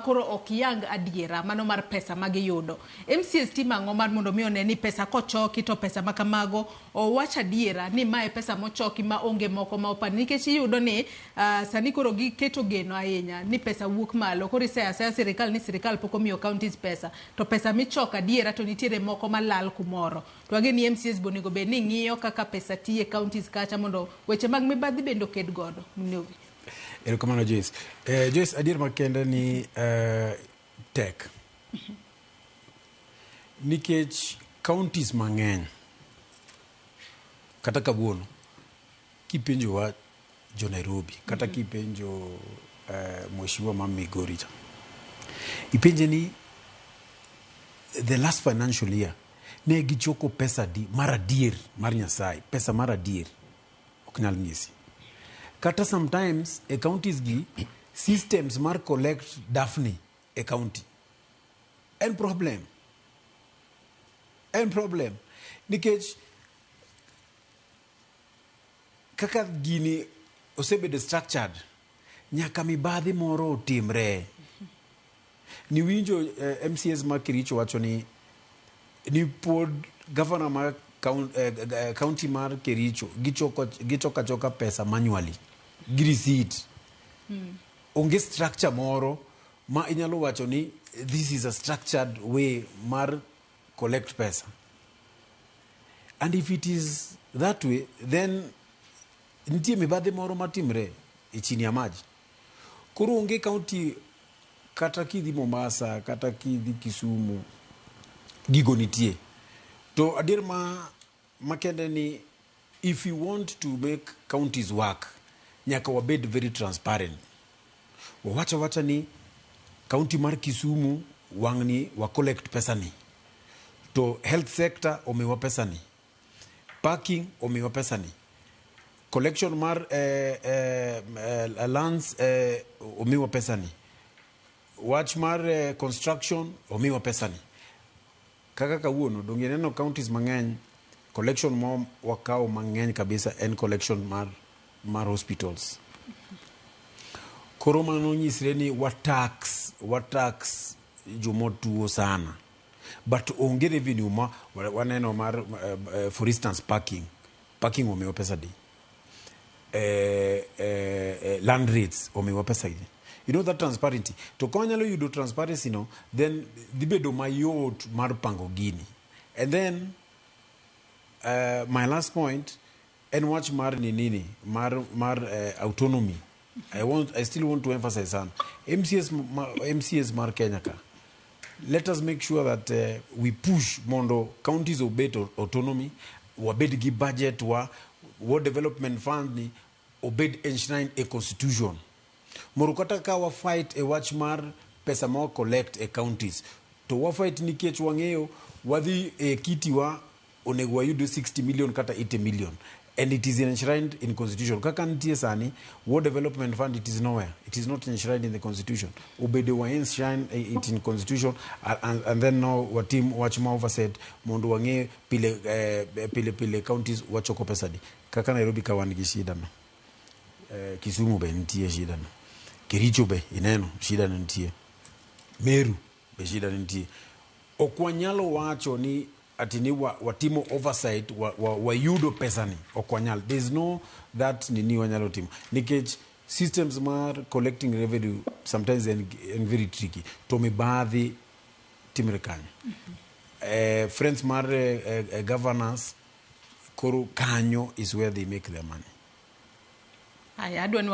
koro ok yang adiera mano mar pesa ma giyudo. MCAs timo ang'o mar mondo mi one ni pesa kochoki to pesa ma kamago owach adiera ni mae pesa mochoki ma onge moko ma opandi nikech iyudo ni ah, sani koro giketo geno ahinya ni pesa wuok malo koro iseyo aseya sirikal ni sirikal pok omiyo counties pesa to pesa michoko adiera to nitiere moko malal kumoro to wang'e ni MCAs bonego bed ni ng'iyo kaka pesa tiye counties kacha mondo weche mag mibadhi bende oked godo. Mnugi. erokamano joyce eh, joyce adier makende ni eh, tek nikech counties mang'eny kata kawuono kipenjowa jo nairobi kata kipenjo eh, mheshimiwa ma migori cha ipenje ni the last financial year ne gichoko pesa di mar adier mar nyasaye pesa mar adier ok nyal nyisi kata sometimes e counties gi systems mar collect dafni e county en problem en problem nikech kaka gini osebedo structured Nyaka mibadhi moro otimre. Niwinjo eh, MCAs ma Kericho wacho ni ni pod gavana ma kaun- eh, g- eh, county mar Kericho gichoko gichoka choka pesa manually gi receipt. Onge structure moro ma inyalo wacho ni this is a structured way mar collect pesa. And if it is that way then Nitie mibadhi moro matimre e chini ya maji. Koro onge kaunti kata kidhi Mombasa kata kidhi Kisumu gigo nitie. To adier ma makende ni if you want to make counties work nyaka wabed very transparent. Wawacha wacha ni kaunti mar Kisumu wang'ni wa collect pesa ni. To health sector omiwa pesa ni. parking omiwa pesani collection mar eh, eh, eh, lands eh, omiwa pesani wach mar eh, construction omiwa pesani kaka kawuono donge ineno counties mang'eny collection ma wakawo mang'eny kabisa en collection mar, mar hospitals koro mano nyisre ni watax watax jomotuo sana But onge revenue ma wa- waneno mar eh, eh, for instance parking. Parking omiwa pesa di. Eh, eh, eh, land rates omiwa pesa di. You know that transparency. To ka wanyalo yudo transparency no, then dhi bedo mayot mar pango gini. And then uh, my last point En wach mar ninini mar mar eh, autonomy. I want I still want to emphasize sana. MCS ma, MCS mar Kenya ka. Let us make sure that eh, we push mondo counties obed au- autonomy, wabed gi budget wa World Development Fund ni obed enshrined e constitution. Moro kata ka wa fight e wach mar pesa ma wa collect e counties to wa fight nikech wang'eyo wadhi e kiti wa onego wayud 60 million kata 80 million and it is enshrined in constitution kaka nitie sani war development fund it is nowhere it is not enshrined in the constitution obedo wa enshrine eh, it in constitution a- and, and then now watim wach ma overset mondo wang'e pile eh, pile pile counties wachoko pesadi kaka nairobi ka wan gi shida no eh, kisumu be nitie shida no kericho be ineno shida no nitie meru be shida no nitie ok wanyalo wacho ni ati ni wa, watimo oversight wa, wa, wayudo pesani ok wanyal there is no that nini wanyalo timo nikech systems mar collecting revenue sometimes en, en very tricky to mibadhi timre kanyo eh, friends mar eh, eh, eh, governors koro kanyo is where they make their money Haya, adwa ni